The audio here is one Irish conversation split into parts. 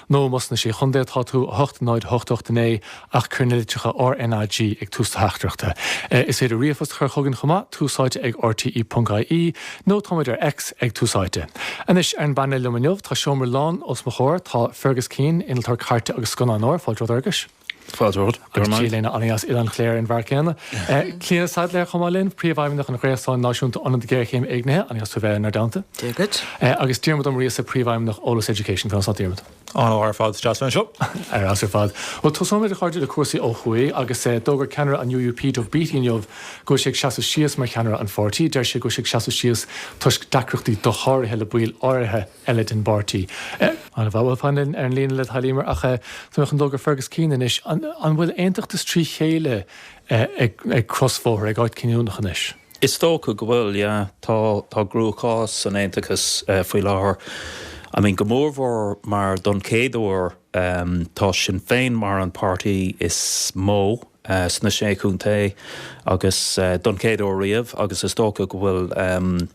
nó más sna Sé Chontae atá tú, 80889 ach cuir na litreacha RNAG ag tús do theachtaireachta. Is féidir ríomhphost a chur chugainn chomh maith, tusaite ag rte.ie, nó táimid ar X ag Tús Áite. Anois ar an bpainéal liom inniu, tá seomra lán os mo chomhair, tá Fergus Keane, innealtóir cairte agus scannánóir, fáilte romhat Fhergus! Agus tú linn anoir as Oileán Chléire in am céanna. Clíona Saidléar chomh maith linn, Príomhfheidhmeannach an Ghréasáin Náisiúnta Ionad Géarchéime Éignithe, an-deas tú a bheith inár dteannta. Dia dhuit. Agus Diarmaid Ó Muirgheasa, Príomhfheidhmeannach Eolas Education. Conas tá Diarmaid? Ar fheabhas ar fad, deas a bheith anseo. Ar fheabhas ar fad. Bhuel, tosóimid a chairde le cúrsaí ó thuaidh agus d'fhógair ceannaire an UUP, Doug Beattie inniu go bhfuil sé ag seasamh síos mar cheannaire an pháirtí. Deir sé go bhfuil sé ag seasamh síos toisc deacrachtaí dosháraithe le baill áirithe. eile den bpáirtí. An bhféadfá fanacht ar an líne le do thoil Eimear ach rachad go Fergus Keane anois an bhfuil aontachtas trí chéile ag crosbhóthar, ag áit cinniúnach anois? Is dócha go bhfuil, yeah. Tá tá cruachás san aontachas faoi láthair. I mean go mórmhór mar don chéad uair tá Sinn Féin mar an páirtí is mó, sna Sé Chontae agus don chéad uair riamh agus is dócha go bhfuil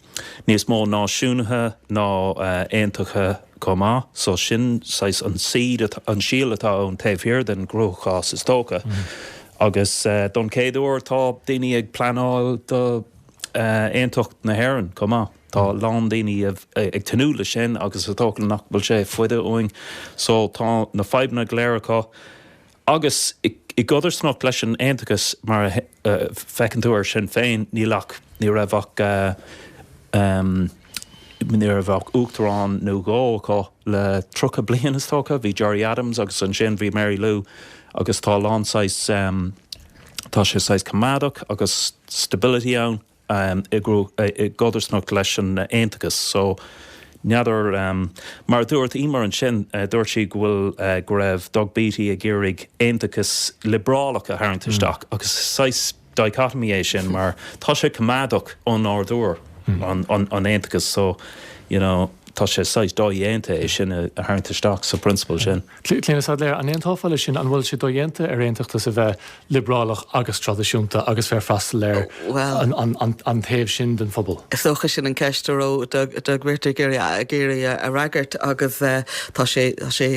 níos mó náisiúnaithe ná aontachtaithe chomh maith so sin saghas an seed, an síol atá ann taobh thiar den gcruachás is dócha agus don chéad uair tá daoine ag pleanáil do aontacht na hÉireann chomh maith, tá a lán daoine ag tnúth le sin agus is dócha nach bhfuil sé i bhfad uainn so tá na fadhbanna go léir acu Agus i gcodarsnacht leis an aontachas mar a féachann tú ar Sinn Féin, níl ach, ní raibh ach, ní raibh ach uachtarán nó dhó acu le tríocha bliain is dócha, bhí Gerry Adams agus ansin bhí Mary Lou agus tá a lán saghas, tá sé saghas coimeádach agus stability ann. i gcodarsnacht leis an aontachas so n'fheadar mar a dúirt Eimear ansin dúirt sí go bhfuil go raibh Doug Beattie ag iarraidh aontachas liobrálach a tharraingt isteach agus saghas dichotomy é sin mar tá sé coimeádach ó nádúr an aontachas so you know tá sé saghas dodhéanta é sin a tharraingt isteach sa bprionsabal sin. Clíona Saidléar, an aontófá leis sin? An bhfuil sé dodhéanta ar aontachtas a bheith liobrálach agus traidisiúnta agus bheith ag freastal ar an taobh sin den phobal? Is dócha sin an ceist a raibh Doug Beattie ag iarraidh a fhreagairt agus tá sé tá sé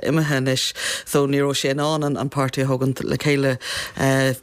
imithe anois so ní raibh sé in ann an páirtí a thugaint le chéile.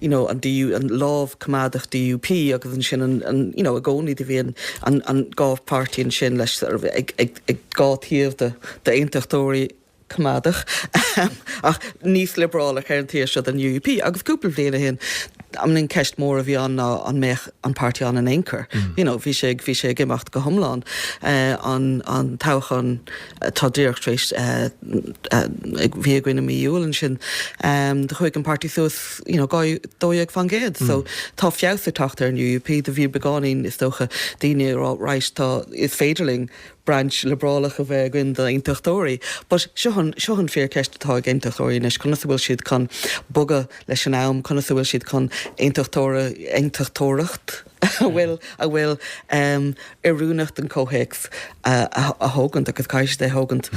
idir an DU, an lámh coimeádach DUP agus ansin an an you know i gcónaí do bhí an an an dhá páirtí ansin leis sort of ag ag ag dhá taobh de d'aontachtóirí coimeádach ahem ach níos liobrálach ar an taobh seo den UUP agus cúpla bhliain a shin I mean an cheist mhór a bhí ann ná an mbeadh an páirtí ann in aon chor you know bhí sé ag bhí sé ag imeacht go hiomlán eh, an an toghchán Tá díreach tar éis, bhí againn i mí Iúil ansin, do chuaigh an páirtí suas, you know, 2% So, tá feabhas ag teacht ar an UUP. Do bhí beagáinín, is dócha, daoine ag rá, yes, tá, is féidir linn brainse liobrálach a bheith againn d'aontachtóirí. But seo an, seo an fíorcheist atá ag aontachtóirí anois, conas a bhfuil siad chun bogadh leis an am, conas a bhfuil siad chun aontachtóra, aontachtóireacht, a bhfuil a bhfuil oiriúnach don comhthéacs a thógaint agus caithfidh siad é thógaint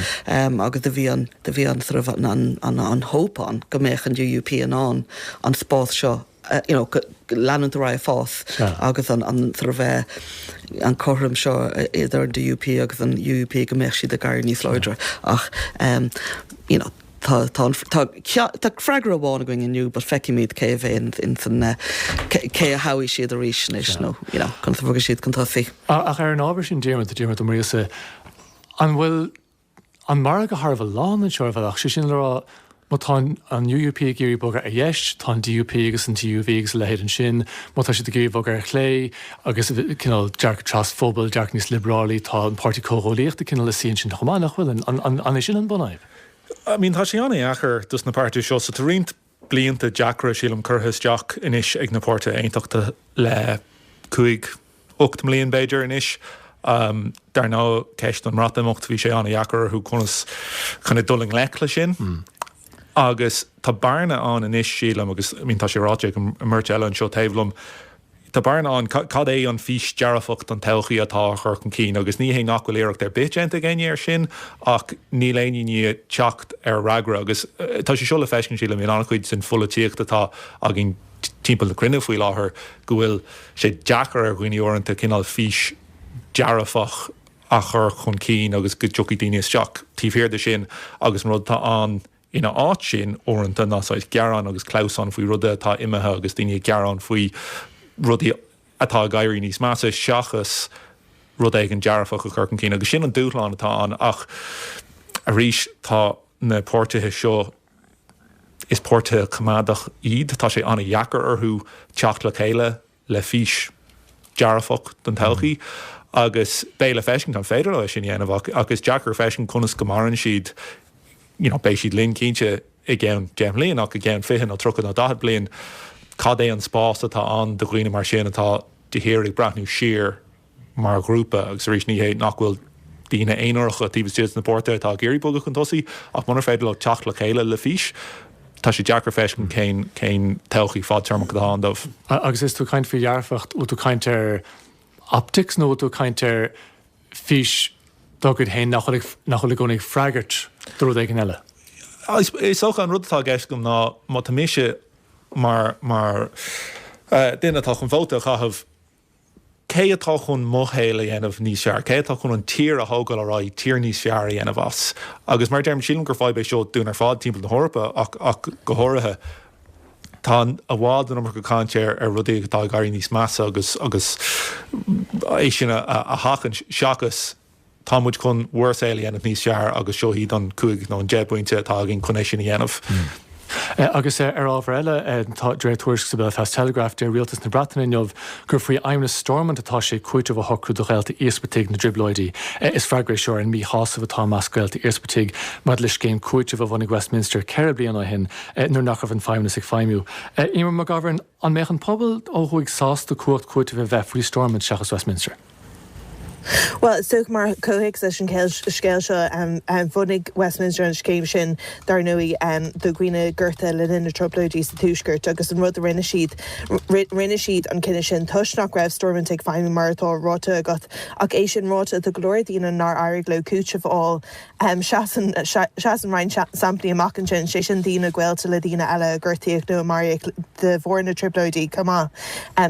agus do bhí an do bhí an sort of an an an hope ann go mbeadh an UUP in ann an spás seo you know leanúint ar aghaidh ag fás agus an an sort of eh, an cothrom seo eh, idir an DUP agus an UUP go mbeadh siad ag éirí níos láidre ach em, you know Tá, tá an, tá ceann, tá freagra amháin againn inniu but feicfimid cé a bheidh in san, cé a thoghfaidh siad arís anois nó, you know, conas a bhogfaidh siad chun tosaigh. Ach ar an ábhar sin Diarmaid, Diarmaid Ó Muirgheasa, an bhfuil an margadh thar a bheith lán anseo ar bhealach, sé sin le rá má tá an UUP ag iarraidh bogadh ar dheis, tá an DUP agus an TUV agus a leithéid ansin, má tá siad ag iarraidh bogadh ar chlé agus cineál dearcadh trasphobail, dearcadh níos liobrálaí, tá an Páirtí Comhghuaillíochta cineál ina suí ansin chomh maith, nach bhfuil? An, an, an é sin an bunfhadhb? I mean, tá sé an-dheacair dos na páirtithe seo, so tá roinnt blianta deacra, sílim, curtha isteach anois ag na páirtithe aontachtacha le cúig, ocht mbliain b'fhéidir anois. Dar ndóigh, ceist an Bhreatimeachta, bhí sé an-dheacair orthu conas kind of dul i ngleic le sin. Agus tá bearna ann anois, sílim, agus I mean tá sé ráite ag an mbeirt eile anseo taobh liom, Tá bearna ann. Cad é an fís dearfach don todhchaí atá á chur chun cinn agus ní hé nach bhfuil iarracht ar bith déanta ag éinne ar sin ach níl éinne i ndiaidh teacht ar fhreagra agus tá sé seo le feiscint sílim in an-chuid sa pholaitíocht atá againn timpeall na cruinne faoi láthair go bhfuil sé deacair ar dhaoine uaireanta cineál fís dearfach a chur chun cinn agus go dtiocfaidh daoine isteach taobh thiar de sin agus an rud atá ann Ina áit sin, uaireanta ná saghas gearán agus clamhsán faoi rudaí atá imithe agus daoine ag gearán faoi rudaí atá ag éirí níos measa seachas rud éigin dearfach a chur chun cinn agus sin an dúshlán atá ann ach arís tá na páirtithe seo, is páirtithe coimeádach iad, tá sé an-dheacair orthu teacht le chéile. le fís dearfach don todhchaí agus beidh le feiscint an féidir leo é sin a dhéanamh ach is deacair feiscint conas go maireann siad you know beidh siad linn cinnte i gceann 10 mbliain ach i gceann 20 nó 30 nó 40 bliain cad é an spás atá ann do dhaoine mar sin atá de shíor ag breathnú siar mar ghrúpa agus arís ní hé nach bhfuil daoine aonaracha taobh istigh de na páirtithe atá ag iarraidh bogadh chun tosaigh ach munar féidir leo teacht le chéile le fís tá sé deacair feiscint cén todhchaí fadtéarmach atá ann dóibh. Agus is tú ag caint faoi dhearfacht, bhfuil tú ag caint ar optics nó bhfuil tú ag caint ar fís dá gcuid féin nach bhfuil i gcónaí ag freagairt do rud éigin eile? Is dócha an rud atá i gceist agam ná má tá mise mar mar duine atá chun vóta a chaitheamh, Cé atá chun mo shaol a dhéanamh níos fearr? Cé atá chun an tír a thógáil ar aghaidh, tír níos fearr a dhéanamh as? Agus mar a deirim, sílim gur fadhb é seo dúinn ar fad timpeall na hEorpa ach go háirithe. Tá i bhfad an iomarca cainte ar rudaí atá ag éirí níos measa agus agus é sin a sheachaint seachas, tá muid chun bhur saol a dhéanamh níos fearr agus seo iad an cúig nó an deich bpointe atá againn chun é sin a dhéanamh. Agus ar ábhar eile, de réir tuairisce sa Belfast Telegraph, deir Rialtas na Breataine inniu gur faoi fheidhmeannas Stormont atá sé cúiteamh a shocrú do ghaolta íospartach na dTrioblóidí. Is freagra é seo ar an míshásamh atá i measc gaolta íospartach maidir le scéim cúitimh a bhunaigh Westminster ceithre bliana ó shin nuair nach raibh an feidhmeannas ag feidhmiú. Eimear McGovern. An mbeadh an pobal ó thuaidh sásta cumhacht cúitimh a bheith faoi Stormont seachas Westminster? Bhuel, is dócha, mar chomhthéacs leis an scéal seo, bhunaigh Westminster an scéim sin, dar ndóigh, do dhaoine gortaithe le linn na dTrioblóidí sa Tuaisceart agus an rud a rinne siad, rinne siad an cinneadh sin toisc nach raibh Stormont ag feidhmiú mar atá ráite agat. Ach é sin ráite, tá go leor daoine nár éirigh leo cúiteamh a fháil. Seasann roinnt samplaí amach ansin, sé sin daoine gaolta le daoine eile a gortaíodh nó a maraíodh de bharr na dtrioblóidí chomh maith.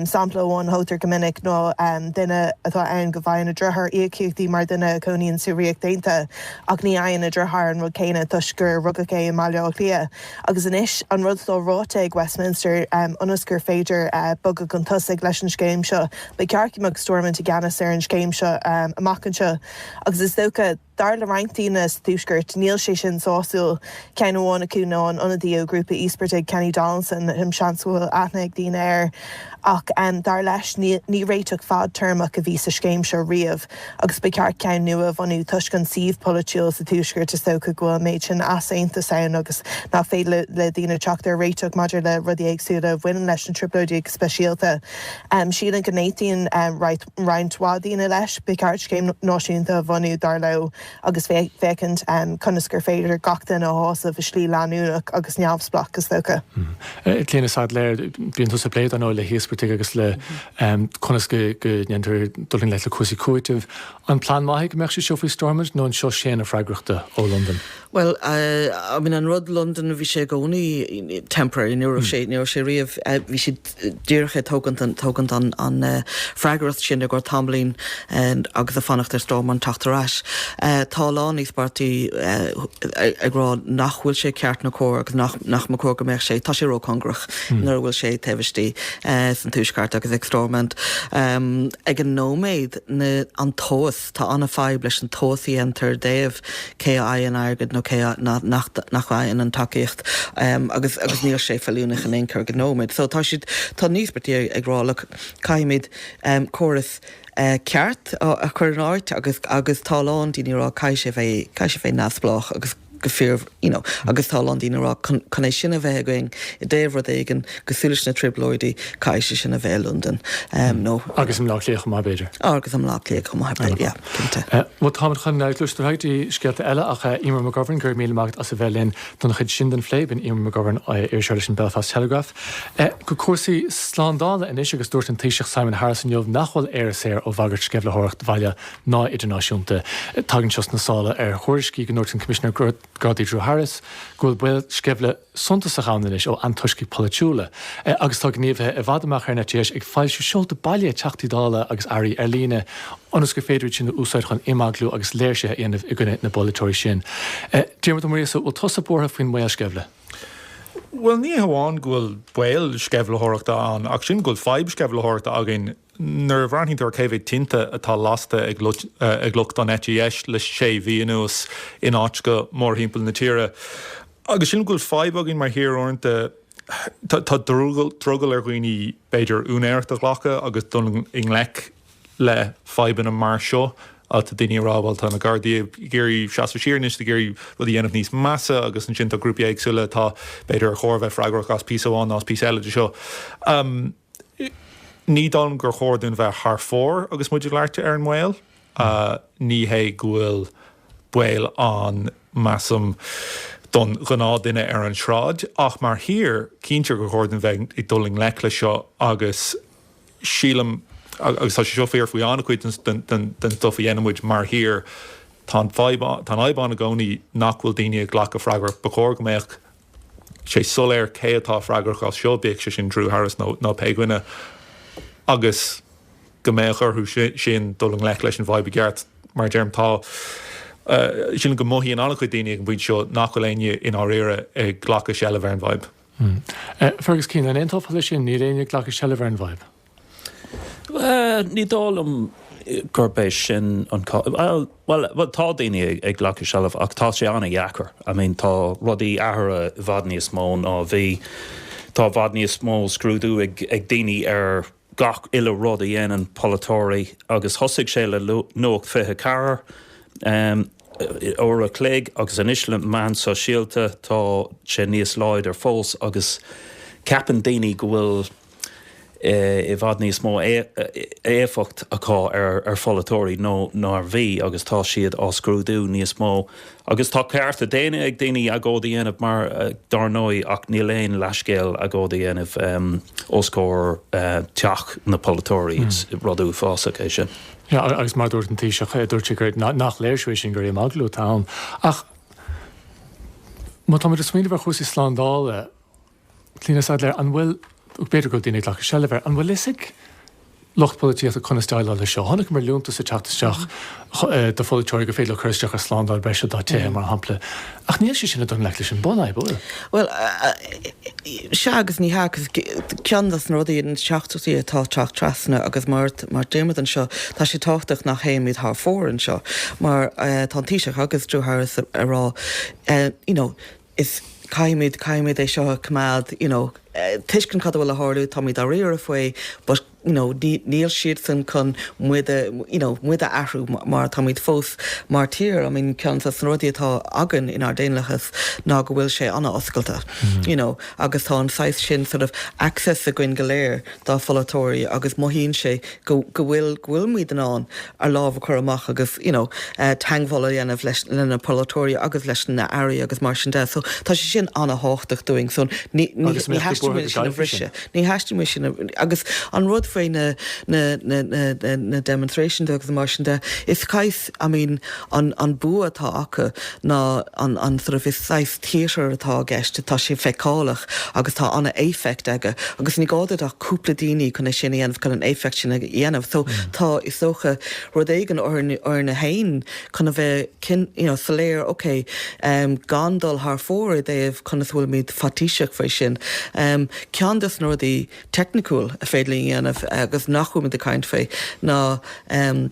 Sampla amháin a thugtar go minic ná duine atá ann go bhfaigheann a dheartháir íocaíochtaí mar dhuine a chónaíonn sa Ríocht Aontaithe ach ní fhaigheann a dheartháir an rud céanna toisc gur rugadh é i mBaile Átha Cliath. Agus anois an rud atá ráite ag Westminster ionas gur féidir bogadh chun tosaigh leis an scéim seo, ba cheart go mbeadh Stormont i gceannas ar an scéim seo amach anseo agus is dócha, Dar le roinnt daoine sa Tuaisceart níl sé sin sásúil, ceann amháin acu ná an ionadaí ó ghrúpa íospartach Kenny Donaldson, em, seans go bhfuil aithne ag daoine air, ach dar leis ní réiteach fadtéarmach a bhí sa scéim seo riamh agus ba cheart ceann nua a bhunú toisc an suíomh polaitiúil sa Tuaisceart is dócha go bhfuil an méid sin easaontas ann agus nach féidir le daoine teacht ar réiteach maidir le rudaí éagsúla a bhaineann leis na Trioblóidí go speisialta. Sílim go n-aontaíonn roinnt. roinnt mhaith daoine leis, ba cheart scéim náisiúnta a bhunú, dar leo, agus féachaint conas gur féidir gach duine a shásamh i slí leanúnach agus neamhspleách, is dócha. Clíona Saidléar, bíonn tusa ag plé, dar ndóigh, le híospartaigh agus le conas go ndéantar dul i ngleic le cúrsaí cúitimh. An plean maith é go mbeadh sé seo faoi Stormont nó an seasann an fhreagracht ó Londain? Bhuel, I mean, an rud Londain, bhí sé i gcónaí temporary, ní raibh sé riamh, bhí sé, díreach ag tógaint an freagracht sin i gcomhair tamaillín agus ag fanacht ar Stormont ag teacht ar ais. Tá a lán de na páirtithe ag rá nach bhfuil sé ceart ná cóir agus nach ba chóir go mbeadh sé, tá sé róchóngarach nuair a bhfuil sé taobh istigh sa Tuaisceart agus ag Stormont. Ag an nóiméad, an tomhas. Tá an-fhadhb leis an tomhas a dhéantar i dtaobh cé a fhaigheann airgead nó cé nach bhfaigheann an tacaíocht agus níl sé feiliúnach in aon chor ag an nóiméad. So tá siad, tá na páirtithe ag rá look, caithfimid córas ceart a chur in áit agus tá a lán daoine ag rá caithfidh sé bheith neamhspleách agus. go fíor, no, agus tá a lán daoine ag rá chun chun é sin a bheith againn i dtaobh rud éigin cosúil leis na trioblóidí caithfidh sé sin a bheith i Londain em nó agus i mBaile Átha Cliath chomh maith b'fhéidir. Agus i mBaile Átha Cliath chomh maith b'fhéidir yeah cinnte. Bhuel táimid chun gluaiseacht ar aghaidh go dtí scéalta eile ach Eimear McGovern go raibh míle maith agat as a bheith linn don chuid sin den phlé. B'in Eimear McGovern, iriseoir leis an Belfast Telegraph. Go cúrsaí slándála anois agus dúirt an Taoiseach Simon Harris inniu nach bhfuil Éire saor ó bhagairt sceimhlitheoireacht bhaile ná idirnáisiúnta. Tagann seo sna sála ar thuairiscí go ndúirt an Coimisinéir Gardaí Drew Harris go bhfuil baol sceimhle suntasach ann anois ó antoiscigh pholaitiúla agus tá gníomhaithe i bhfad amach ar an eite dheis ag foilsiú seoltaí baile Teachtaí Dála agus airí ar líne ionas gur féidir iad sin a úsáid chun imeaglú agus léirsithe a dhéanamh i gcoinne na bpolaiteoirí sin. Diarmad Ó Muirgheasa, bhfuil tusa buartha faoin mbaol sceimhle? Bhuel, ní hamháin go bhfuil baol sceimhlitheoireachta ann ach sílim go bhfuil fadhb sceimhlitheoireachta againn Nuair a bhreathnaíonn tú ar cé mhéad tinte atá lasta ag lucht an eite dheis le sé mhí anuas in áiteanna mórthimpeall na tíre, agus sílim go bhfuil fadhb againn mar thír uaireanta, tá drogall ar dhaoine b'fhéidir úinéireacht a ghlacadh agus dul i ngleic le fadhbanna mar seo. Tá daoine ag rá bhuel tá na Gardaí ag iarraidh seasamh siar níl siad ag iarraidh rudaí a dhéanamh níos measa agus ansin tá grúpaí éagsúla atá b'fhéidir ar chóir a bheith freagrach as píosa amháin nó as píosa eile de seo. Ní dóigh liom gur chóir dúinn bheith thar fóir agus muid ag labhairt ar an mbaol. Ní hé go bhfuil baol ann, measaim, don ghnáthdhuine ar an tsráid, ach mar thír, cinnte gur chóir dúinn bheith ag dul i ngleic leis seo agus sílim, agus tá sé seo fíor faoi an-chuid den stuif a dhéanann muid mar thír, tá an fhadhb ann i gcónaí nach bhfuil daoine ag glacadh freagracht. Ba chóir go mbeadh sé soiléir cé atá freagrach as seo, bíodh sé sin Drew Harris nó pé duine, agus go mbeadh orthu sin dul i ngleic leis an bhfadhb i gceart. Mar a deirim, tá, sílim go mothaíonn an-chuid daoine ag an bpointe seo nach bhfuil éinne i ndáiríre ag glacadh seilbh ar an bhfadhb. Fergus Keane, An aontófá leis sin, níl éinne ag glacadh seilbh ar an bhfadhb? Ní dóigh liom gurb é sin an cás. Bhuel, tá daoine ag glacadh seilbhe ach tá sé an-deacair. I mean tá rudaí athraithe i bhfad níos mó ná a bhí. Tá i bhfad níos mó scrúdú ag daoine ar gach uile rud a dhéanann polaiteoirí agus thosaigh sé le Nuacht 24, uair a chloig, agus anois le meáin shóisialta tá sé níos láidre fós agus ceapann daoine go bhfuil. i bhfad níos mó éifeacht acu ar pholaiteoirí ná mar a bhí agus tá siad á scrúdú níos mó agus tá cearta daonna ag daoine agóid a dhéanamh mar dar ndóigh ach níl aon leathscéal agóid a dhéanamh os comhair teach na polaiteoirí rud uafásach é sin. Agus mar dúirt an Taoiseach dúirt sé gur nach léirsiú é sin gur imeaglú atá ann ach má tá muid ag smaoineamh ar chúrsaí slándála, Clíona Saidléar, An bhfuil, b'fhéidir go bhfuil daoine ag glacadh seilbhe air, an bhfuil a fhios ag lucht polaitíochta conas déileáil leis seo? Chonaiceamar liúntas ag teacht isteach do pholaiteoirí gur féidir leo cur isteach ar shlándáil bhreise dá dtithe, mar shampla, ach níl sé sin ag dul i ngleic leis an bhunfhadhb, an bhfuil? Bhuel, sea agus ní hea, agus ceann des na rudaí, na teachtaireachtaí atá ag teacht trasna agus mar a deirimid anseo, tá sé tábhachtach nach théimid thar fóir anseo mar tá an Taoiseach agus Drew Harris ag rá, you know, is caithfimid, caithfimid é seo a choimeád you know tuiscint cad a bhfuil ag tarlú, táimid dáiríre faoi but you know níl, níl siadsan chun muid a you know muid a athrú mar táimid fós mar tír I mean ceann dos na rudaí atá againn inár daonlathas ná go bhfuil sé an-oscailte you know agus tá an saghas sin sort of access againn go léir dár bpolaiteoirí agus mothaíonn sé go, go bhfuil, go bhfuilimid in ann ár lámh a chur amach agus you know teangmháil a dhéanamh leis le na polaiteoirí agus leis na airí agus mar sin de so tá sé sin an-thábhachtach dúinn so ní ní ní theastaíonn uainn sin a bhriseadh ní theastaíonn uainn sin agus an rud faoi na na na na na demonstration de agus mar sin de is cais I mean an an bua atá acu ná an an sort of is theatre atá i gceist, tá sé feiceálach agus tá ana éifeacht aige agus ní gá duit ach cúpla daoine chun é sin a dhéanamh, chun an éifeacht sin a dhéanamh. So tá, is dócha, rud éigin orainn, orainne fhéin chun a bheith cin, you know, soiléir, ok, em, gan dul thar fóir i dtaobh conas a bhfuilimid faitíseach faoi sin. Em, ceann des na rudaí teicniciúil is féidir linn a dhéanamh agus nach bhfuilimid ag caint faoi ná, em,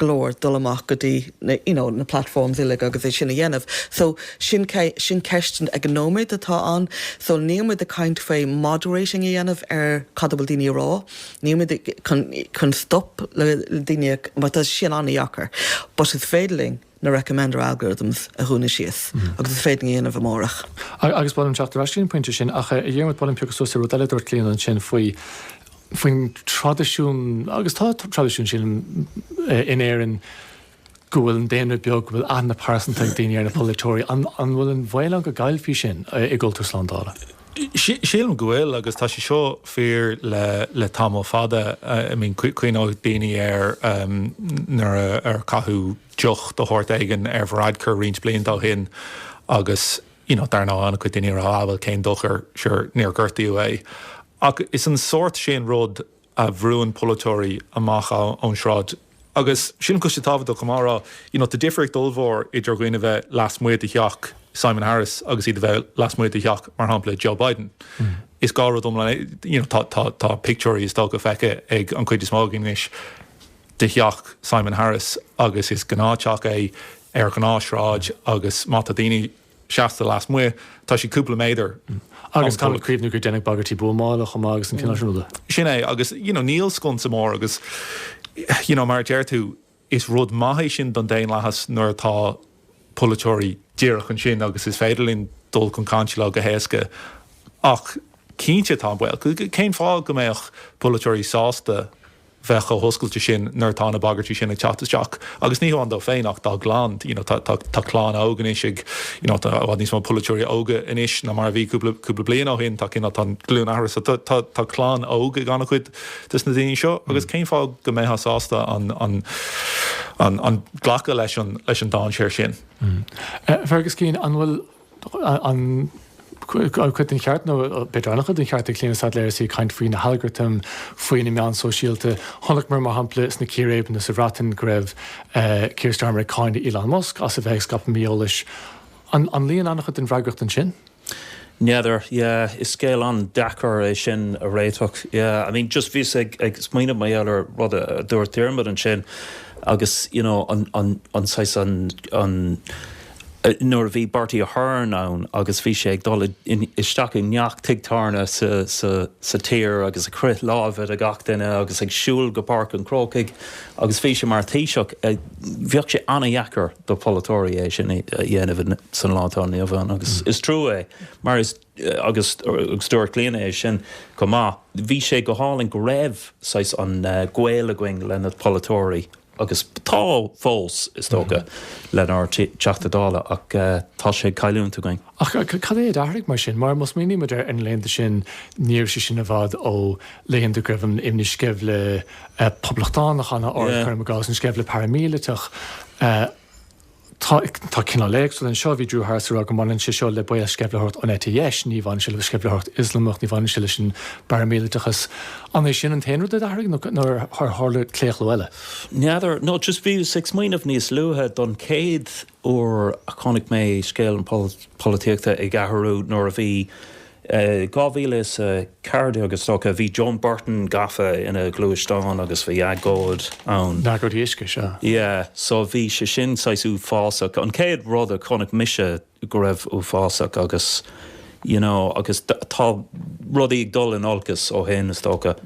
glór dul amach go dtí na you know na platforms uilig agus é sin a dhéanamh so sin sin ceist ag an nóiméad atá ann so níl muid ag caint faoi moderating a dhéanamh ar cad a bhfuil daoine ag rá níl muid chun chun stop le daoine mar tá sin an-deacair but is féidir linn na recommender algorithms a dhúnadh síos agus is féidir linn é a dhéanamh amárach. Agus ba mhaith liom teacht ar ais go dtí an pointe sin, ach a Dhiarmuid, ba mhaith liom piocadh suas ar rud eile a dúirt Clíona ansin faoi faoin traidisiún, agus tá an traidisiún sin in Éirinn go bhfuil an daonra beag, go bhfuil aithne pearsanta ag daoine ar na polaiteoirí, an bhfuil an baol ann go gcaillfí sin i gcultúr slándála? Sílim go bhfuil agus tá sé seo fíor le tamall fada. I mean cuimhneoidh daoine ar nuair a caitheadh deoch de shórt éigin ar Varadkar roinnt blianta ó shin agus you know dar ndóigh an-chuid daoine ag rá ah bhuel cén dochar sure níor gortaíodh é. Ach is an sórt sin rud a bhrúnn polaiteoirí amach ón sráid. Agus sílim go bhfuil sé tábhachtach chomh maith a rá, you know, tá difríocht ollmhór idir dhaoine a bheith lasmuigh de theach Simon Harris agus iad a bheith lasmuigh de theach, mar shampla, Joe Biden. Is dhá rud iomlán é, you know, tá pictiúirí, is dócha, feicthe ag an cuid is mó againn anois de theach Simon Harris agus is gnáth-theach é ar ghnáth-shráid agus má tá daoine, seasta lasmuigh, tá sé cúpla méadar Agus caithfimid cuimhniú gur deineadh bagairtí buamála chomh maith agus an cineál sin ruda. Sin é, agus you know níl sconsa mór agus you know mar a deir tú, is rud maith é sin don daonlathas nuair atá polaiteoirí díreach ansin agus is féidir linn dul chun cainte leo go héasca ach cinnte tá an baol, cén fáth go mbeadh polaiteoirí sásta? bheith chomh hoscailte sin nuair atá na bagairtí sin ag teacht isteach agus ní hamháin dó féin ach dá gclann. You know tá tá clann óg anois ag you know tá i bhfad níos mó polaiteoirí óga anois ná mar a bhí cúpla cúpla bliain ó shin tá cineál tá an glúin athraithe so tá tá tá clann óg ag an-chuid des na daoine seo agus cén fáth go mbeifeá sásta an an an an glacadh leis an leis an dainséar sin. Fergus Keane an bhfuil aon chuid den cheart nó b'fhéidir an-chuid den cheart ag Clíona Saidléar agus í ag caint faoi na halgartaim faoi na meáin sóisialta. Chonaiceamar, mar shampla, sna círéibeanna sa Bhreatain go raibh Keir Starmer ag cáineadh Elon Musk as a bheith ag scaipeadh mí-eolais. An an luíonn an-chuid den bhfreagracht ansin? N'fheadar. Yeah, is scéal an-deacair é sin a réiteach. Yeah, I mean, just bhíos ag ag smaoineamh mar gheall ar rud a dúirt Diarmuid ansin agus, you know, an an an saghas an an. nuair a bhí Bertie Ahern ann agus bhí sé ag dul isteach i ngach tigh tábhairne sa tír agus ag croith láimhe le gach duine agus ag siúl go Páirc an Chrócaigh agus bhí sé mar Thaoiseach, bheadh sé ana-dheacair do pholaiteoirí é sin a dhéanamh san lá atá inniu ann agus is trua é mar is, agus dúirt Clíona é sin chomh maith, bhí sé go hálainn go raibh saghas an gaol againn le na polaiteoirí. agus tá fós, is dócha, lenár dTeachtaí Dála, ach tá sé ag cailliúint againn. Ach cad é a d'athraigh, mar sin? Mar má smaoinímid ar na laethanta sin, ní raibh sé sin i bhfad ó laethanta go raibh an imní sceimhle poblachtánach ann abair cuir i gcás an sceimhle paraimíleatach. Tá tá cineál éagsúil anseo. Bhí Drew Harris ag rá go mbaineann sé seo le baol sceimhlitheoireacht an eite dheis. Ní bhaineann sé le sceimhlitheoireacht Ioslamach, ní bhaineann sé leis an bparaimíleatachas. An é sin an t-aon rud a d'athraigh nó nó ar ar tharla claochlú eile? N'fheadar. No just bhíos ag smaoineamh níos luaithe don chéad uair a chonaic mé scéal an polaitíochta ag athrú nuair a bhí 2014 agus is dócha, bhí Joan Burton gafa ina gluaisteán agus bhí agóid ann. An agóid uisce, sea. Yeah, so bhí sé sin saghas uafásach. An chéad rud a chonaic mise go raibh uafásach agus, you know, agus tá rudaí ag dul in olcas ó shin, is dócha.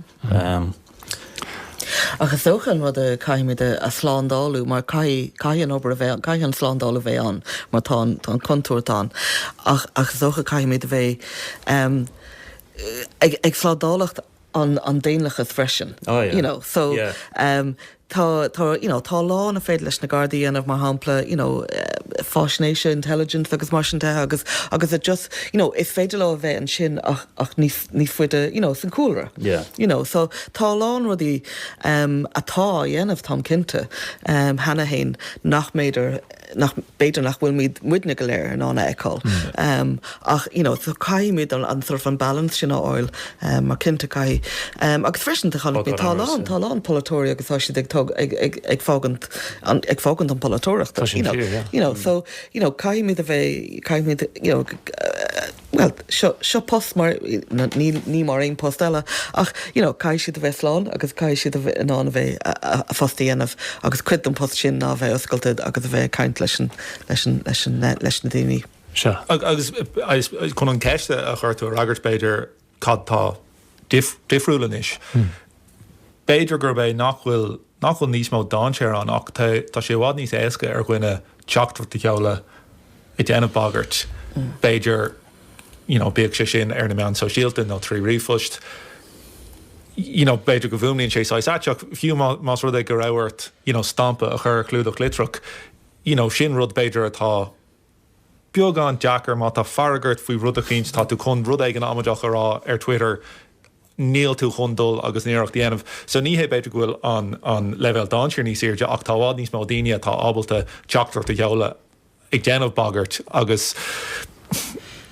Ach is dócha an rud a caithfimid a shlándáilú mar caithfidh, caithfidh an obair a bheith, caithfidh an slándáil a bheith ann mar tá an, tá an contúirt ann ach, ach is dócha caithfimid a bheith ag, ag slándálacht an, an daonlathas freisin, you know, so Tá, tá, you know, tá a lán a féidir leis na Gardaí a dhéanamh, mar shampla, you know, faisnéise, intelligence agus mar sin de agus, agus it just, you know, is féidir leo a bheith ansin ach, ach níos, níos faide, you know, san cúlra. Yeah. You know, so tá a lán rudaí um atá á ndéanamh, táim cinnte, um cheana fhéin nach b'fhéidir nach, b'fhéidir nach bhfuil muid, muidne go léir in ann a fheiceáil. Ach you know caithfidh muid an an sort of an balance sin a fháil mar cinnte caithfidh. Agus freisin chonaic mé tá a lán tá a lán polaiteoirí agus tá siad ag tóg ag ag ag fágaint an ag fágaint an polaiteoireachta you know you know so you know caithfidh muid a bheith caithfidh muid you know bhuel, seo, seo post mar, ní, ní mar aon post eile ach, you know, caithfidh siad a bheith slán agus caithfidh siad a bheith in ann a bheith, a, a, a bpost a dhéanamh agus cuid den post sin ná a bheith oscailte agus a bheith ag caint leis an, leis an, leis an eh, leis na daoine. Sea, agus, I suppose, chun an cheist a chuir tú a fhreagairt b'fhéidir, cad tá, difriúil anois. B'fhéidir gurb é nach bhfuil nach bhfuil níos mó dainséar ann ach tá tá sé i bhfad níos éasca ar dhuine teachtaireacht a sheoladh ag déanamh bagairt b'fhéidir you know bíodh sé sin ar na meáin sóisialta nó trí ríomhphost you know b'fhéidir go bhfuaimníonn sé saghas ait ach fiú má más rud é go raibh ort you know stampa a chur ar chlúdach litreach you know sin rud b'fhéidir atá beagán deacair, má tá fearg ort faoi rud eicínt, tá tú chun rud éigin amaideach a rá ar Twitter, níl tú chun dul agus an iarracht a dhéanamh. So ní hé b'fhéidir go bhfuil an an leibhéal dainséir níos airde ach tá i bhfad níos mó daoine atá ábalta teachtaireacht a sheoladh ag déanamh bagairt agus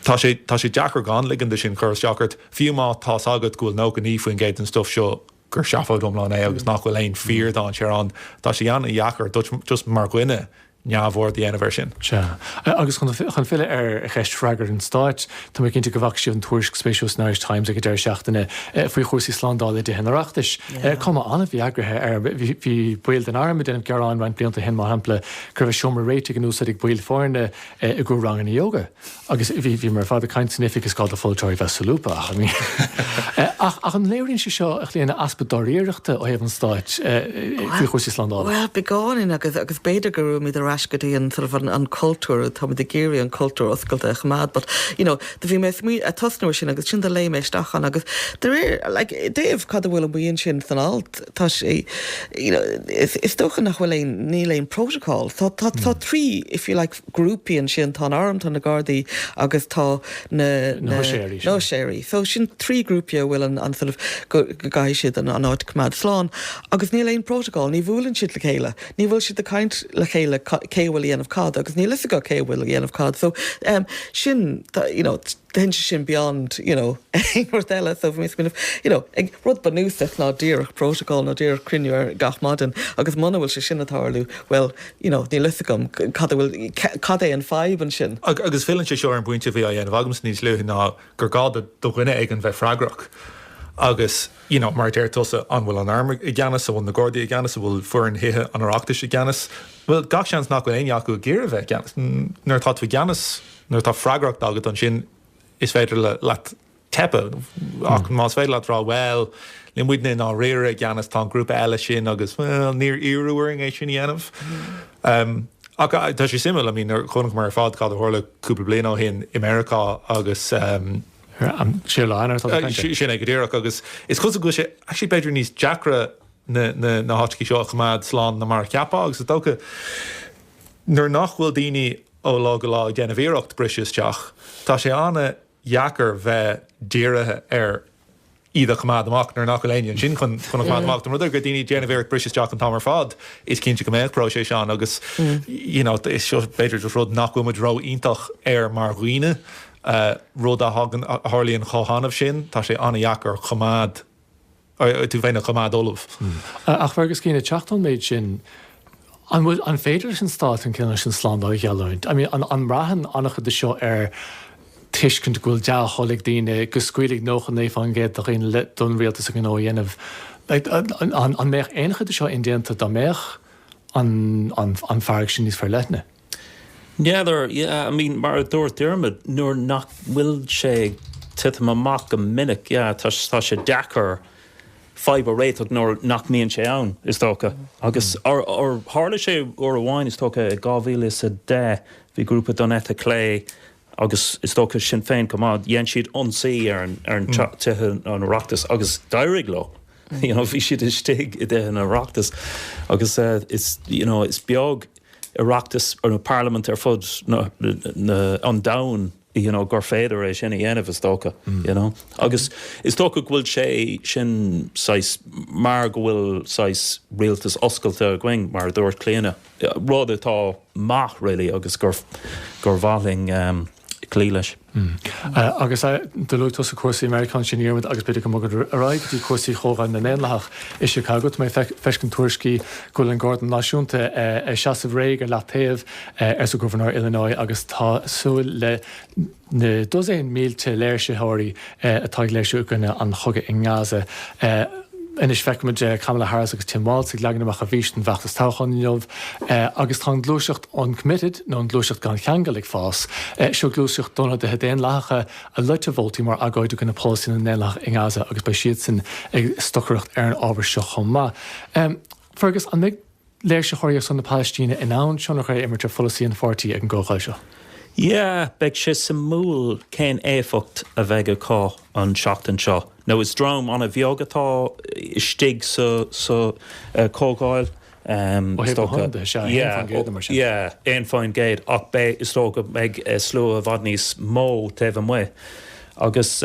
tá sé tá sé deacair gan ligean do sin cur isteach ort, fiú má tá's agat go bhfuil 99% den stuif seo gur seafóid iomlán é agus nach bhfuil aon fíordhainséar ann. Tá sé an-deacair duit, just mar dhuine, neamhaird a dhéanamh air sin. Sea. Agus chun filleadh ar cheist freagra an Stáit, tá mé cinnte go bhfaca sibh an tuairisc spéisiúil san Irish Times ag an deireadh seachtaine faoi chúrsaí slándála i dTithe an Oireachtais. Cuma an-mhí-eagraithe air. Bhí baill den arm ag déanamh gearáin roinnt blianta ó shin, mar shampla, go raibh a seomra réitigh in úsáid ag baill foirne i gcomhair ranganna yoga. Agus bhí bhí muid ar fad ag caint san oifig gur gá do pholaiteoirí bheith solúbtha, ach I mean Ach ach an léiríonn sé seo a Chlíona easpa dáiríreachta ó thaobh an stáit faoi chúrsaí slándála? Bhuel, beagáinín agus agus b'fhéidir go raibh muid ar ais go dtí an sort of an an cultúr, tá muid ag iarraidh an cultúr oscailte a choimeád but, you know, do bhí mé smaoi- a tosnú ar sin agus sin do léigh mé isteach ann agus de réir like i dtaobh cad a bhfuil ann ansin san alt tá sé you know is is dócha nach bhfuil aon níl aon protocol tá tá tá trí if you like grúpaí ansin, tá an arm, tá na gardaí agus tá na, na, huiséirí sin, na huiséirí. So sin trí grúpaí a bhfuil an, an sort of, go, go gcaithfidh siad an, an áit coimeád slán. Agus níl aon protocol, ní bhuaileann siad le chéile, ní bhfuil siad ag caint le chéile ca, cé a bhfuil a dhéanamh cad, agus níl a fhios acu cé a bhfuil a dhéanamh cad. So, um, sin, you know, Tá sé sin beyond, you know, aon rud eile so bhí mé ag smaoineamh, you know, ag rud bunúsach ná díreach protocol ná díreach cruinniú ar gach maidin agus muna bhfuil sé sin ag tarlú, bhuel, you know, níl fhios agam cad a bhfuil, cad é an fadhb ansin. Agus filleann sé seo ar an bpointe a bhí á dhéanamh agamsa níos luaithe ná gur gá do dhuine éigin bheith freagrach agus, you know, mar a deir tusa, an bhfuil an arm i gceannas, an bhfuil na Gardaí i gceannas, an bhfuil foireann Thithe an Oireachtais i gceannas? Bhuel, gach seans nach bhfuil éinne acu ag iarraidh bheith i gceannas. Nuair atá tú i gceannas. Nuair atá freagracht agat ansin is féidir leat teipeadh ach más féidir leat rá bhuel níl muidne i ndáiríre i gceannas tá an grúpa eile sin agus bhuel níor iarradh orainn é sin a dhéanamh. Ach tá sé suimiúil, I mean chonaic muid ar fad cad a tharla cúpla bliain ó shin i Meiriceá agus ehm Sé lá Eanáir atá tú ag caint? Sin é go díreach agus is cosúil go bhfuil sé actually b'fhéidir níos deacra na háiteachaí seo a choimeád slán ná mar a cheapfá agus is dócha nuair nach bhfuil daoine ó lá go lá ag déanamh iarracht briseadh isteach. Tá sé ana dheacair bheith dírithe ar iad a choimeád amach nuair nach bhfuil éinne ansin chun chun a choimeád amach. Má tá ar a laghad daoine ag déanamh iarracht briseadh isteach an t-am ar fad, is cinnte go mbeidh próiséis ann agus you know is seo b'fhéidir just rud nach bhfuil muid ró iontach air mar dhaoine. Rud a thagann a tharlaíonn chomh hannamh sin, tá sé ana dheacair a choimeád. tú féin a choimeád ullamh. Ach Fergus, ag cur san áireamh an méid sin, an féidir leis an stát an cineál sin slándála a gheallúint? I mean, an mbraitheann an-chuid de seo ar tuiscint go bhfuil dea-thoil ag daoine go scaoilfidh 99 faoin gcéad de dhaoine don rialtas a ngnó a dhéanamh? An mbeadh aon chuid de seo indéanta dá mbeadh an fearg sin níos forleithne? N'fheadar, yeah, I mean, mar a dúirt Diarmuid, nuair nach bhfuil sé ag titim amach go minic, yeah, tá, tá sé deacair fadhb a réiteach nuair nach mbíonn sé ann, is dócha. Agus or, or, tharla sé uair amháin, is dócha, i 2010, bhí grúpa don eite chlé agus is dócha Sinn Féin chomh maith, dhéan siad ionsaí ar an, ar an mm. tithe an Oireachtas agus d'éirigh leo. Mm. You know, bhí siad istigh i dtithe an Oireachtas agus uh, is, you know, is beag Oireachtas nó parlaimint ar fud an domhain you know gur féidir é sin a dhéanamh is dócha you know agus is dócha go bhfuil sé sin saghas mar go bhfuil saghas rialtas oscailte againn mar a dúirt Clíona rud atá maith really agus gur gur mhaith linn cloí leis. Agus do luaigh tusa cúrsaí Meiriceá ansin a Dhiarmuid agus b'fhéidir go mbogfad ar aghaidh go dtí cúrsaí Chomhdháil na nDaonlathach i Chicago. Tá mé ag feiscint tuairiscí go bhfuil an Garda Náisiúnta ag seasamh réidh ar leataobh, arsa Gobharnóir Illinois agus tá súil le na dosaein mílte léirsitheoirí. atá ag léirsiú i gcoinne an chogaidh i nGaza. Anois feicimid Kamala Harris agus Tim Walz ag leagan amach a bhfís don bhfeachtas toghcháin inniu agus tá an gluaiseacht uncommitted nó an gluaiseacht gan cheangal ag fás. Seo gluaiseacht d'ionadaithe Daonlathacha a loit a vótaí mar agóid i gcoinne polasaí na nDaonlathach i nGaza agus beidh siadsan ag stocaireacht ar an ábhar seo chomh maith. Fergus, an mbeidh. léirsitheoirí ar son na Palaistíne in ann tionchar a imirt ar pholasaí an pháirtí ag an gcomhdháil seo. Yeah, beidh sé suimiúil cén éifeacht a bheidh acu an tseachtain seo. Now is dream an-bheag atá istigh sa chomhdháil, is dócha. Ó thaobh na hionadaithe, sea, 1% nó mar sin. Yeah, 1%, ach beidh, is dócha go mbeidh slua i bhfad níos mó taobh amuigh. Agus,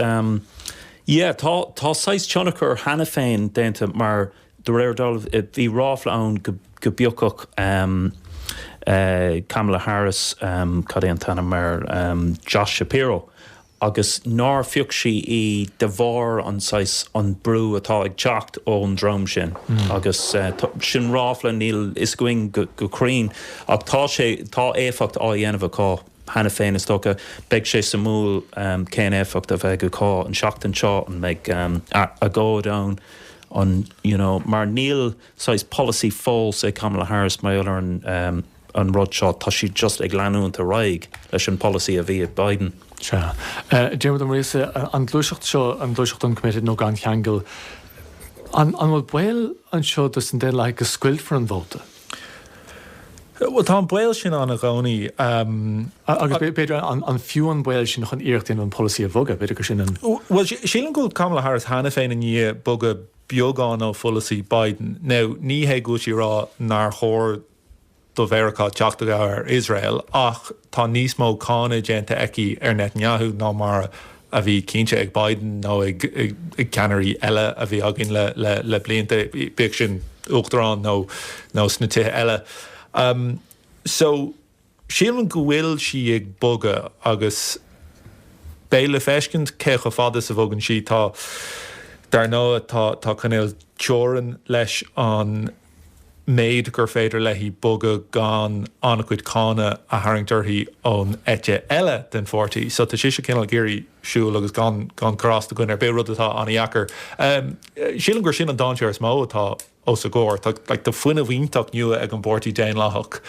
yeah, tá saghas tionchar cheana féin déanta mar De réir dealraimh bhí ráfla ann go bpiocfadh Kamala Harris, cad é an t-ainm air, Josh Shapiro, agus nár phioc sí í de bharr an saghas, an brú atá ag teacht ón dream sin agus sin ráfla níl fhios againn go cruinn ach tá sé, tá éifeacht á dhéanamh acu. Cheana féin is dócha beidh sé suimiúil cén éifeacht a bheidh acu an seachtain seo, an mbeidh agóid ann, an you know mar níl saghas polasaí fós ag Kamala Harris mar gheall ar an rud seo, tá sí just ag leanúint ar aghaidh leis an polasaí a bhí ag Biden. Sea. Diarmuid Ó Muirgheasa, an gluaiseacht seo, an gluaiseacht uncommitted nó gan cheangal, an bhfuil baol anseo dos na Daonlathaigh go scoiltfear an vóta? Bhuel, tá an baol sin ann i gcónaí. Agus b'fhéidir is fiú an baol sin chun iarracht a dhéanamh an polasaí a bhogadh, b'fhéidir gur sin an. Bhuel, sílim go bhfuil Kamala Harris cheana féin i ndiaidh bogadh beagán ó pholasaí Biden. Now, ní hé go bhfuil sí ag rá nár chóir do Mheiriceá teacht i gcabhair ar Iosrael, ach tá níos mó cáineadh déanta aici ar Netanyahu ná mar a bhí cinnte ag Biden nó ag ceannairí eile a bhí againn le blianta, bíodh sin uachtarán nó sna tithe eile. So sílim go bhfuil sí ag bogadh agus beidh le feiscint cé chomh fada is a bhogann sí. Tá, dar ndóigh, tá cineál teorainn leis an. méid gur féidir léi bogadh gan an-chuid cáinte a tharraingt uirthi ón eite eile den pháirtí. So tá sise cineál ag iarraidh siúl agus gan gan cur as do dhuine ar bith, rud atá an-dheacair. Sílim gur sin an dainséar is mó atá os a gcomhair. Tá like tá fuinneamh iontach nua ag an bpáirtí Daonlathach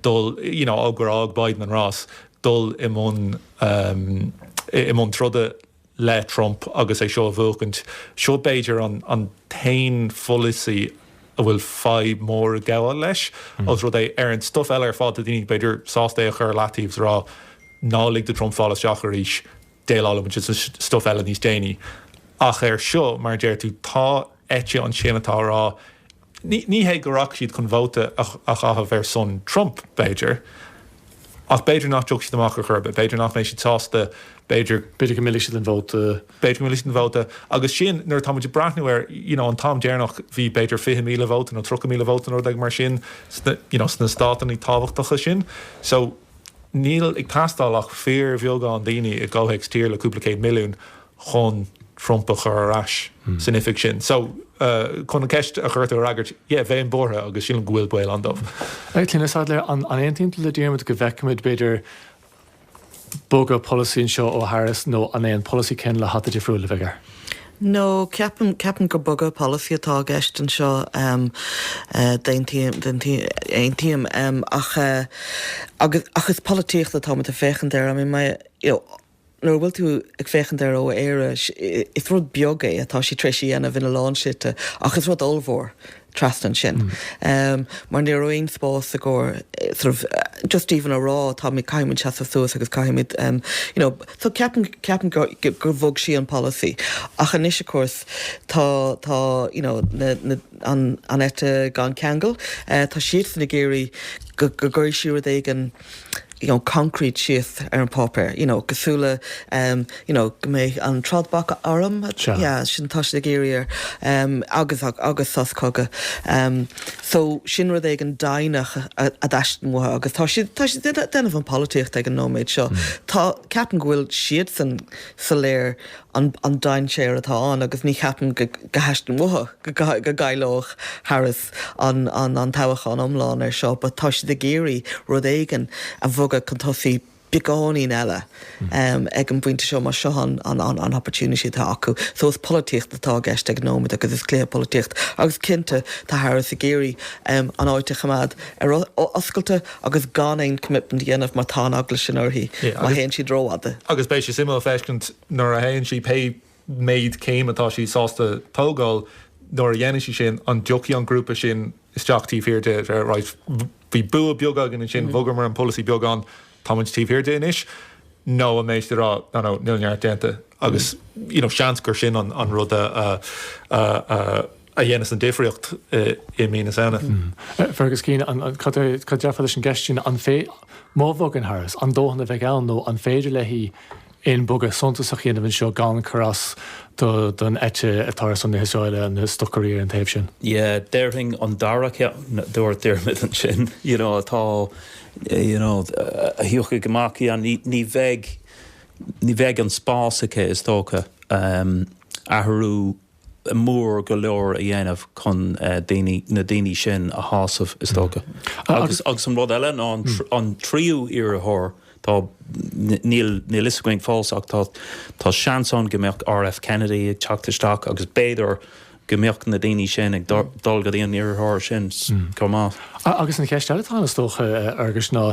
dul you know ó gur fhág Biden an rás dul i mbun i mbun troda. le Trump agus é seo a bhuachaint. Seo b'fhéidir an t-aon pholasaí a bhfuil fadhb mór ag gabháil leis, os rud é, ar an stuif eile ar fad tá daoine b'fhéidir sásta é a chur i leataobh 's a rá ná lig do Trump fáil isteach arís, déileálfaidh muid leis an stuif eile níos déanaí. Ach ar seo, mar a deir tú, tá eite ansin atá a rá Ní hé go rachaidh siad chun vóta a chaitheamh ar son Trump, b'fhéidir, ach b'fhéidir nach dtiocfaidh siad amach ar chor ar bith, b'fhéidir nach mbeidh siad sásta, b'fhéidir, b'fhéidir go millfidh siad an vóta, b'fhéidir go millfidh siad an vóta agus sin nuair atá muid ag breathnú ar, you know, an t-am deireanach bhí b'fhéidir 20,000 vóta nó 30,000 vóta nó rud éigin mar sin sna, you know, sna státannaí tábhachtacha sin. So, níl ag teastáil ach fíorbheagán daoine i gcomhthéacs tír le cúpla céad milliún chun Trump a chur ar ais san oifig sin. So, chun an cheist a chuir tú a fhreagairt, yeah, bheinn buartha agus sílim go bhfuil baol ann dóibh. Clíona Saidléar, An aontaíonn tú le Diarmaid go bhfeicfimid, b'fhéidir, bogadh polasaí anseo ó Harris nó an é an polasaí céanna le hata difriúil a bheidh air? Ó, ceapaim, ceapaim gur bogadh polasaí atá i gceist anseo, d'aontaím, d'aontaím, aontaím, agus, ach is polaitíocht atáimid ag féachaint air, I mean, you know, nuair a bhfuil tú ag féachaint ar ó Éire, is rud beag é atá sí tar éis a dhéanamh ina lán slite ach is rud ollmhór trasna ansin. Mar ní raibh aon spás i gcomhair sort of, just even a rá tá muid, caithfidh muid seasamh suas agus caithfidh muid you know, so ceapaim, ceapaim gur bhog sí an polasaí ach anois of course tá, tá you know na, na, an, an eite gan cheangal, tá siadsan ag iarraidh go, go gcuirfidh sí rud éigin, you know, concrete síos ar an páipéar, you know, cosúil le, um, you know, go mbeidh an trádbhac arm, Sea. yeah, sin atá siad ag iarraidh air, um, agus, agus sos cogaidh. Um, so, sin rud éigin deimhneach a, a dteastaíonn uathu agus tá siad, tá siad ag déanamh an pholaitíocht ag an nóiméad seo. Tá, ceapaim go bhfuil siadsan soiléir an, an dainséar atá ann agus ní cheapaim go, go theastaíonn uathu go, go gcaillfeadh Harris. an toghachán iomlán ar seo but tá siad ag iarraidh rud éigin a bhogadh chun tosaigh beagáinín eile ag an bpointe seo mar seo an opportunity atá acu so is polaitíocht atá i gceist ag an nóiméad agus is cluiche polaitíocht agus cinnte tá Harris ag iarraidh an áit a choimeád ar oscailte agus gan aon commitment a dhéanamh mar tá an eagla sin uirthi má théann siad rófhada. Agus beidh sé suimiúil feiscint nuair a théann sí pé méid céim atá sí sásta tógáil nuair a dhéanann sí sin, an dtiocfaidh an grúpa sin isteach taobh thiar di, right, bhí bua beag againn ansin, bhogamar an polasaí beagán, táimid taobh thiar di anois, nó an mbeidh siad ag rá, no, no, níl neart déanta agus, you know, seans gur sin an rud a. a dhéanas an difríocht i mí na Samhna. Fergus Keane, Cad é cad déarfá leis an gceist sin, an fiú má bhogann Harris, an dóthain a bheidh ann nó an féidir léi aon bogadh suntasach a dhéanamh anseo gan cur as do don eite atá ar son na hIosraeile, na stocairí ar an taobh sin? Yeah, déarfainn an dara ceann a dúirt Diarmaid ansin, you know atá you know a thiocfaidh amach, yeah ní ní bheidh ní bheidh an spás aici is dócha athrú mór go leor a dhéanamh chun daoine, na daoine sin a shásamh is dócha. Agus, agus an rud eile ná an, an tríú iarrthóir, tá, níl, níl fhios againn fós ach tá, tá seans ann go mbeadh RF Kennedy ag teacht isteach agus b'fhéidir go mbeadh na daoine sin ag dul go dtí an iarrthóir sin chomh maith. Agus an cheist eile atá ann is dócha Fergus ná,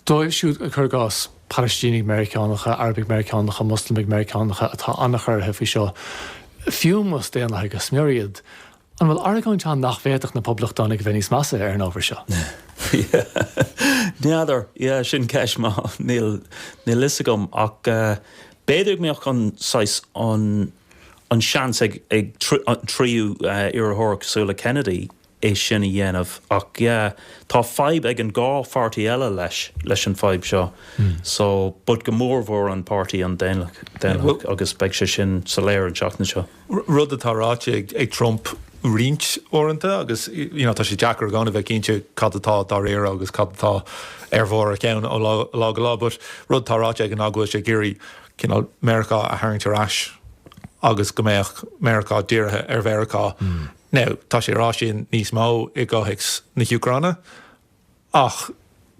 Dóibh siúd, cur i gcás, Palaistínigh Mheiriceánacha, Arabaigh Mheiriceánacha, Muslamaigh Mheiriceánacha atá an-chorraithe faoi seo, fiú más daonlathaigh go smior iad, an bhfuil argóint ann nach bhféadfadh na Poblachtánaigh a bheith níos measa ar an ábhar seo? N'fheadar. Yeah, sin ceist mhaith. Níl, níl 'fhios agam ach b'fhéidir go mbeadh an saghas, an, an seans ag, ag an tríú iarrthóir cosúil le Kennedy, é sin a dhéanamh ach yeah tá fadhb ag an dhá pháirtí eile leis leis an fadhb seo so but go mór mhór an páirtí an daonlathach agus beidh sé sin soiléir an seachtain seo. rud atá ráite ag Trump roinnt uaireanta agus you know tá sé deacair i gcónaí a bheith cinnte cad atá dáiríre agus cad atá ar bharr a cheann ó lá lá go lá but rud atá ráite aige ná go bhfuil sé ag iarraidh cineál Meiriceá a tharraingt ar ais agus go mbeadh Meiriceá dírithe ar Mheiriceá Now, tá sé rá sin níos mó i gcomhthéacs na hÚcráine, ach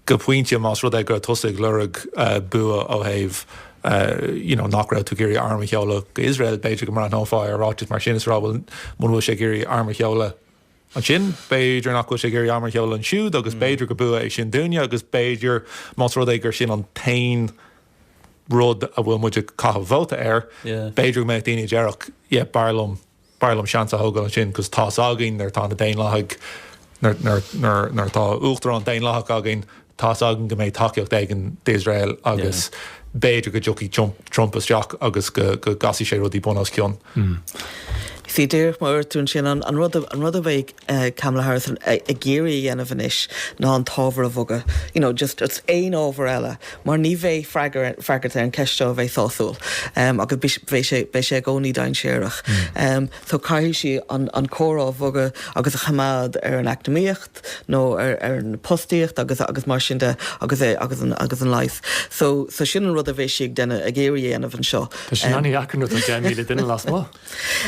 go pointe, más rud é gur tusa atá ag lorg bua ó thaobh you know nach raibh tú ag iarraidh arm a sheoladh go Iosrael, b'fhéidir go mbreathnófá ar ráiteas mar sin is a rá bhuel muna bhfuil sé ag iarraidh arm a sheoladh ansin, b'fhéidir nach bhfuil sé ag iarraidh arm a sheoladh ansiúd agus b'fhéidir gur bua é sin dúinne agus b'fhéidir más rud é gur sin an t-aon rud a bhfuil muid ag caitheamh vóta air, b'fhéidir go mbeadh daoine a déarfadh yeah b'fhearr liom b'fhearr liom seans a thógáil ansin cos tá a fhios againn nuair atá na Daonlathaigh nuair nuair nuair nuair atá Uachtarán Daonlathach againn tá a fhios againn go mbeidh tacaíocht éigin d'Iosrael agus b'fhéidir go dtiocfaidh Trump Trump isteach agus go go gcasfaidh sé rudaí bun os cionn. Sea, díreach mar a dúirt tú ansin, an an rud a an rud a bheidh Kamala Harris ag iarraidh a dhéanamh anois ná an t-ábhar a bhogadh, you know just aon ábhar eile mar ní bheidh freagra ar an gceist seo a bheidh sásúil agus beidh sé beidh sé i gcónaí dainséarach. So caithfidh sí an an comhrá a bhogadh agus a choimeád ar an eacnamaíocht nó ar ar an fhostaíocht agus agus mar sin de agus é agus an agus an leigheas. So so sin an rud a bheidh sí ag déan ag iarraidh a dhéanamh anseo. Tá sin ann ní hea ach tá deich míle duine lasmuigh.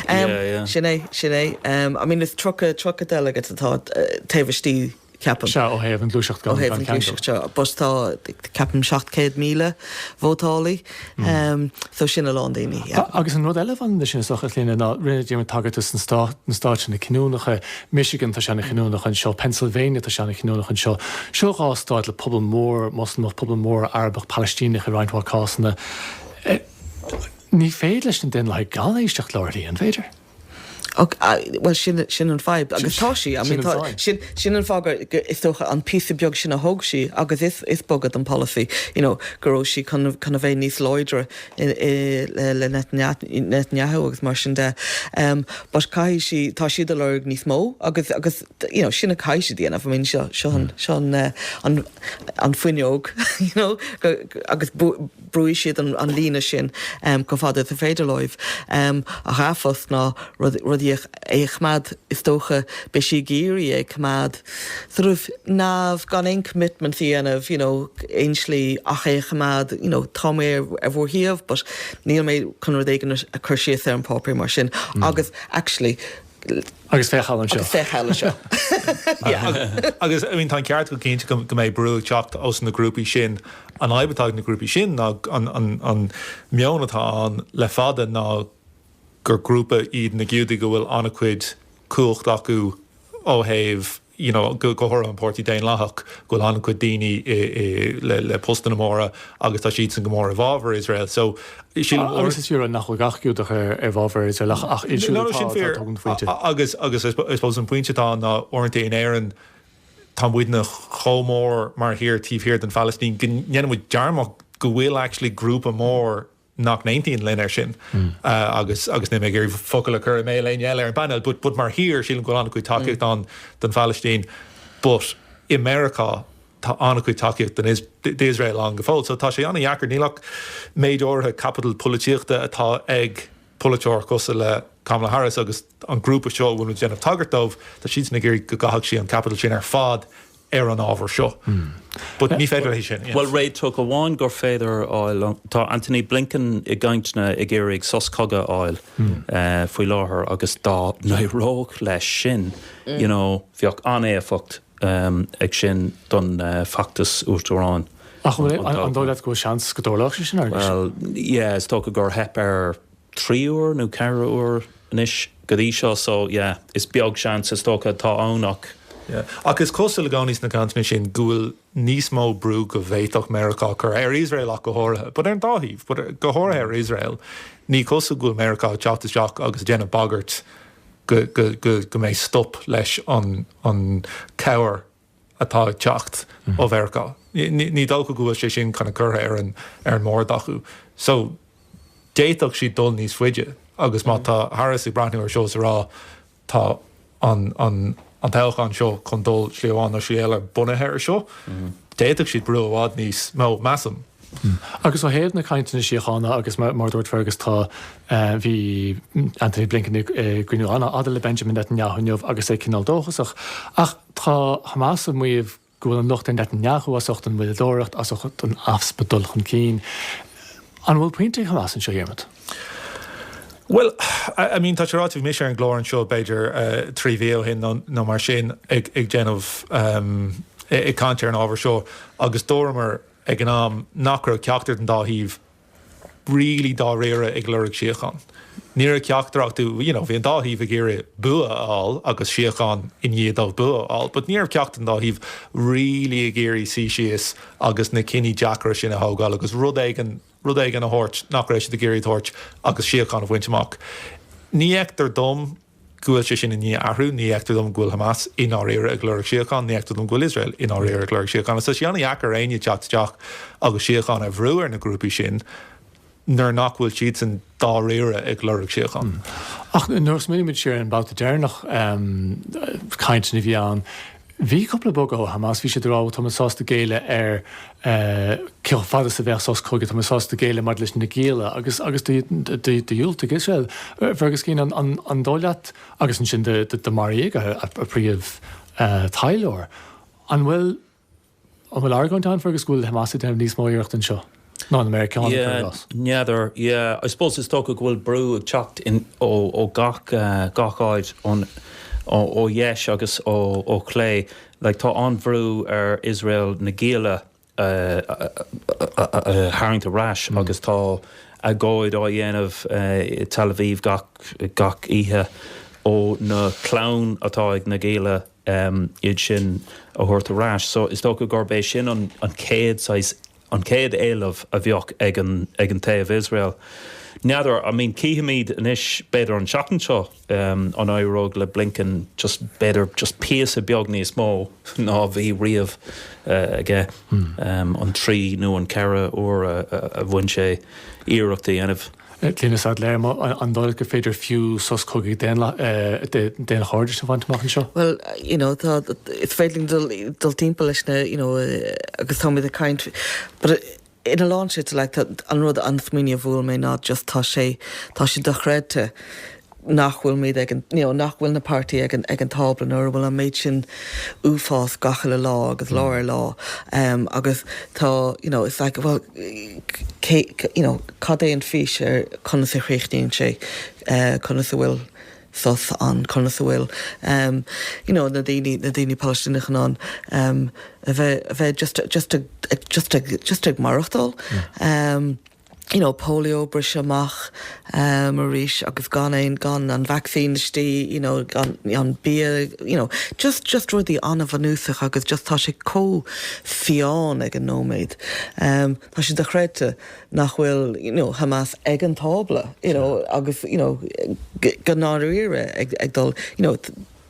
Yeah, yeah. Sin é, sin é. I mean is tríocha, tríocha delegates atá taobh istigh ceapaim. Sea, ó thaobh an gluaiseacht gan ceangal. Ó thaobh an gluaiseacht seo, but tá ceapaim 700,000 vótálaí, so sin a lán daoine. Agus an rud eile a bhaineann leis sin is dócha, a Chlíona, ná rinne Diarmaid tagairt dos na Stáit, na Stáit sin na cinniúnacha, Michigan tá sé ana-chinniúnach anseo, Pennsylvania tá sé ana-chinniúnach anseo. Seo dhá stáit le pobal mór Moslamach, pobal mór Arabach, Palaistíneach i roinnt mhaith cásanna. Ní féidir leis na Daonlathaigh gan éisteacht leo ar shlí, an féidir? Och, bhuel, sin, sin an fadhb. Agus tá sí, I mean, tá, sin, sin an fáth gur, gur, is dócha, an píosa beag sin a thóg sí agus is, is bogadh den polasaí, you know, go raibh sí chun, chun a bheith níos láidre i, i, le, le Netanyahu, Netanyahu agus mar sin de. Um, but caithfidh sí, tá siad ag lorg níos mó agus, agus, you know, sin a caithfidh sí a dhéanamh. I mean, seo, seo an, seo an, uh, an, an fuinneog, you know, go, agus bu, brúfaidh siad an líne sin chomh fada is is féidir leo, ach an fadhb ná rudaí a choimeád, is dócha, beidh sí ag iarraidh é a choimeád sort of neamh, gan aon commitments a dhéanamh, you know, aon slí ach é a choimeád, you know, tá mé ar bhur dtaobh but níl mé chun rud éigin a chur síos ar an bpáipéar mar sin, agus actually, Agus féach air seo. Féach air seo. Agus I mean tá an ceart go cinnte go go mbeidh brú ag teacht ós na grúpaí sin. An fhadhb atá ag na grúpaí sin ná an an an meon atá ann le fada ná gur grúpa iad na Giúdaigh go bhfuil an-chuid cumhacht acu ó thaobh you know go háirithe an Páirtí Daonlathach go bhfuil an-chuid daoine i i le le postanna móra agus tá siadsan go mór i bhfábhar Iosrael so sílim go Agus is fíor nach bhfuil gach Giúdach i i bhfábhar Iosrael ach ach iad siúd atá atá tógann an phointe. Agus agus I suppose an pointe atá ann ná uaireanta in Éirinn tá muidne chomh mór mar thír taobh thiar den Phalaistín go ndéanaimid dearmad go bhfuil actually grúpa mór nach n-aontaíonn linn ar sin agus agus níl mé ag iarraidh focal a chur i mbéal éinne eile ar an bpainéal but but mar thír sílim go bhfuil an-chuid tacaíocht ann don Phalaistín but i Meiriceá tá an-chuid tacaíocht don d'Iosrael ann go fóill so tá sé an-deacair níl ach méid áirithe caipiteal polaitíochta atá ag polaiteoir cosúil le Kamala Harris agus an grúpa seo a bhfuilimid déanamh tagairt dóibh tá siadsan ag iarraidh go gcaithfeadh sí an caipiteal sin ar fad a ar an ábhar seo. But ní féidir léi sin. Bhuel, réiteach amháin gur féidir a fháil, tá Antony Blinken i gcainteanna ag iarraidh sos cogaidh a fháil faoi láthair agus dá n-éireodh leis sin, you know, bheadh an-éifeacht ag sin don feachtas uachtaráin. Ach an dóigh leat go bhfuil seans go dtarlóidh sé sin, Fergus? Bhuel, yeah, is dócha gur theip air trí uair nó ceithre uair anois go dtí seo so yeah is beag seans is dócha atá ann ach. yeah ach is cosúil i gcónaí sna cainteanna sin go bhfuil níos mó brú go bhféadfadh Meiriceá a chur ar Iosrael ach go háirithe but ar an dá thaobh but go háirithe ar Iosrael ní cosúil go bhfuil Meiriceá ag teacht isteach agus ag déanamh bagairt go go go go mbeidh stop leis an an cabhair a atá ag teacht ó Mheiriceá. Ní dócha go bhfuil sé sin kind of curtha ar an mbord acu. So, d'fhéadfadh siad dul níos faide agus má tá Harris ag breathnú ar seo is ag rá tá an toghchán seo chun dul slí amháin nó slí eile bunaithe ar seo, d'fhéadfadh siad brú i bhfad níos mó, measaim. Agus ó thaobh na cainteanna síochána agus mar a dúirt Fergus tá, bhí Anthony Blinken ag cruinniú an-fhada le Benjamin Netanyahu inniu agus é cineál dóchasach. Ach. Tá Hamas ag maíomh go bhfuil an locht ar Netanyahu as ucht an mhoilleadóireacht, as ucht an easpa dul chun cinn. An bhfuil pointe ag Hamas anseo, a Dhiarmaid? Bhuel, I mean, tá sé ráite, bhí mise ar an gclár anseo b'fhéidir trí mhí ó shin nó mar sin ag déanamh, ag caint ar an ábhar seo agus dúramar ag an am nach raibh ceachtar den dá thaobh really dáiríre ag lorg síocháin. Ní raibh ceachtar acu, you know, bhí an dá thaobh ag iarraidh bua a fháil agus síocháin i ndiaidh dóibh bua a fháil, but ní raibh ceachtar den dá thaobh really ag iarraidh suí síos agus na cinní deacra sin a thógáil agus rud éigin, rud éigin a thabhairt nach raibh siad ag iarraidh a thabhairt agus síocháin a bhaint amach. Ní fheictear dom. go bhfuil sé sin i ndiaidh athrú, ní fheictear dom go bhfuil Hamas i ndáiríre ag lorg síocháin, ní fheictear dom go bhfuil Iosrael i ndáiríre ag lorg síocháin. So is é an-dheacair ar éinne teacht isteach agus síocháin a bhrú ar na grúpaí sin nuair nach bhfuil siadsan dáiríre ag lorg síocháin. Ach nuair a smaoinímid siar ar an babhta deireanach cainteanna a bhí ann, Bhí cúpla bogadh ó Hamas, bhí siad ag rá bhuel tá muid sásta géilleadh ar cé chomh fada is a bheidh sos cogaidh, tá muid sásta géilleadh maidir leis na gialla agus dhiúltaigh Iosrael. Fergus Keane, an dóigh leat agus ansin do do maraíodh a a príomh taidhleoir, an bhfuil, An bhfuil argóint ann, Fergus, go bhfuil Hamas ag déanamh níos mó iarracht anseo ná na Meiriceánaigh, cuir i gcás? N'fheadar. Yeah, I suppose is dócha go bhfuil brú ag teacht ó gach áit, ó dheis agus ó chlé. Like, tá an-bhrú ar Iosrael na gialla a tharraingt ar ais agus tá agóid á dhéanamh i Tel Aviv gach oíche ó na clann atá ag na gialla um iad sin a thabhairt ar ais. So is dócha gurb é sin an an chéad saghas an chéad éileamh a bheadh ag an ag an taobh Iosrael. N'fheadar, I mean cífimid anois b'fhéidir an tseachtain seo um an éireoidh le Blinken just b'fhéidir just píosa beag níos mó ná a bhí riamh uh aige um an trí nó an ceithre uair a a bhain sé iarracht a dhéanamh. Clíodhna Saidléar, an dóigh leat gur féidir fiú sos cogaidh daonchairdis a bhaint amach anseo? Bhuel, you know, tá, is féidir linn dul, dul timpeall leis na, you know, agus táimid ag caint, but in a lán slite, like, an rud, an smaoineamh a bhuail mé ná just tá sé, tá sé dochreidte, nach bhfuil muid ag an, you know, nach bhfuil na páirtithe ag an, ag an tábla nuair a bhfuil an méid sin uafás gach uile lá agus lá ar lá ehm agus tá, you know, it's like bhuel cé, you know, cad é an fís ar conas a chríochnaíonn sé eh conas a bhfuil sos ann conas a bhfuil ehm you know na daoine, na daoine Palaistíneacha in ann ehm a bheith, a bheith just, just ag, just ag, just ag maireachtáil ehm. you know, polio briste amach arís agus gan aon, gan an vacsaín istigh, you know, gan an bia, you know, just, just rudaí an-bhunúsach agus just tá sé chomh fiáin ag an nóiméad. Tá sé dochreidte nach bhfuil, you know, Hamas ag an tábla, you know, agus, you know, go ndáiríre ag, ag dul, you know,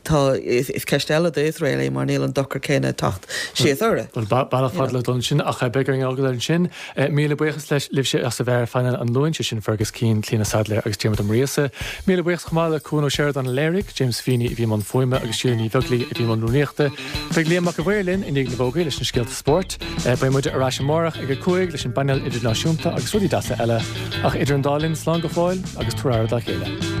Tá, is ceist eile do Iosrael é mar níl an dochar céanna ag teacht síos orthu. Bhuel, bealach fada le dul ansin ach beidh orainn é a fhágáil ansin. Míle buíochas leis, libhse as a bheith ar phainéal an Luain, sé sin Fergus Keane, Clíodhna Saidléar agus Diarmuid Ó Muirgheasa. Míle buíochas chomh maith le Cuan Ó Seireadáin a léirigh, James Feeney a bhí i mbun fuaime agus Síle Ní Bheaglaoi a bhí i mbun rúnaíochta. Beidh Liam Mac an Mhaoir linn i ndiaidh na bhfógraí leis na scéalta Spórt. Beidh muid ar ais amárach ag a cúig leis an bpainéal idirnáisiúnta agus rudaí deasa eile, ach idir an dá linn, slán go fóill agus tabhair aire dá chéile.